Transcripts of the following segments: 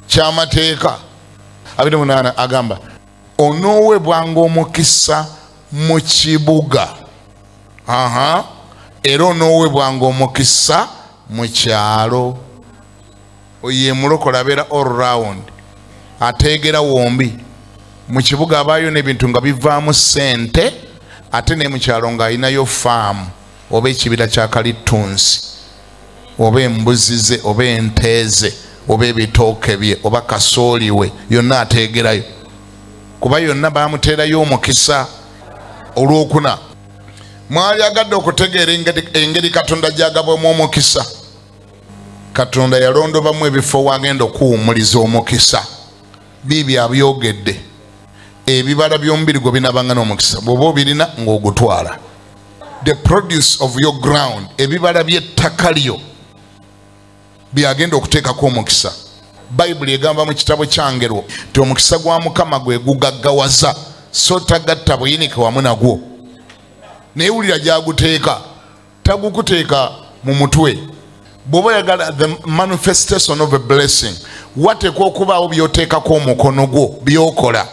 kyamateeka abiri munaana agamba onoowebwanga omukisa mu kibuga aha era onoowebwanga omukisa mu kyalo oyo yemulokola abeera all round ateegera wombi mu kibuga abaayo n'ebintu nga bivaamu sente ate ne mu kyalo ng'alinayo faamu oba ekibira kya kalittunsi oba embuzi ze oba ente ze oba ebitooke bye oba kasooli we yonna ateegerayo kuba yonna bamuteerayo omukisa olwokuna mwali agadde okutegeera engeri katonda gyagabwamu omukisa katonda yalondobamu ebifo wagenda okuwumuliza omukisa biibi abyogedde ebibala by'omubiri gwe binabanga n'omukisa bw'oba obirina ng'ogutwala the produce of your ground ebibala by'ettaka lyo byagenda okuteekako omukisa bayibuli egamba mu kitabo kyangerwo nti omukisa gwa mukama gwe gugaggawaza so tagatta buyinike wamu nagwo naye wulira gyaguteeka tagukuteeka mu mutwe bw'oba oyagala the manifestation of a blessing wateekwa okubaawo by'oteekako omukono gwo by'okola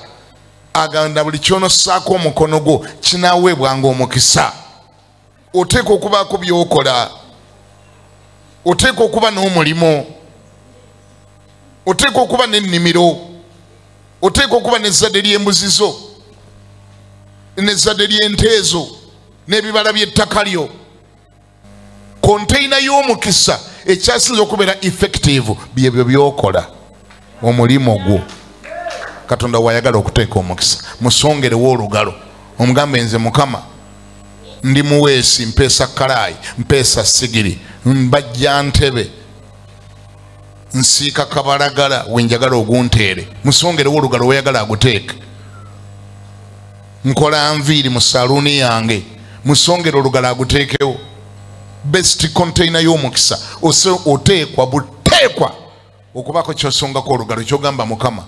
aganda buli kyonosaako omukono gwo kinaweebwanga omukisa oteeka okubaako byokola oteeka okuba n'omulimu oteeka okuba n'ennimiro oteeka okuba n'ezzadde ly'embuzi zo n'ezzadde ly'enteezo n'ebibala by'ettaka lyo konteyina y'omukisa ekyasinza okubeera effective byebyo byokola omulimu gwo katonda wayagala okuteeka omukisa musongerewo olugalo omugambe nze mukama ndi muweesi mpeesa kalaayi mpeesa sigiri mbajja ntebe nsiika kabalagala wenjagala ogunteere musongerewo olugalo weyagala aguteeke nkola nviiri mu saluuni yange musongera olugala aguteekewo best containa y'omukisa ose oteekwa buteekwa okubako kyosongako olugalo kyogamba mukama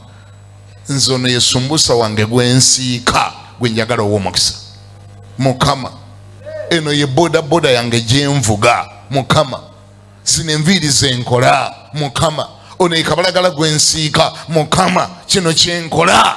nze ono yesumbusa wange gwensiika gwenjagala ow'omukisa mukama eno ye bodaboda yange gyenvuga mukama zino enviiri zenkola mukama ono yekabalagala gwensiika mukama kino kyenkola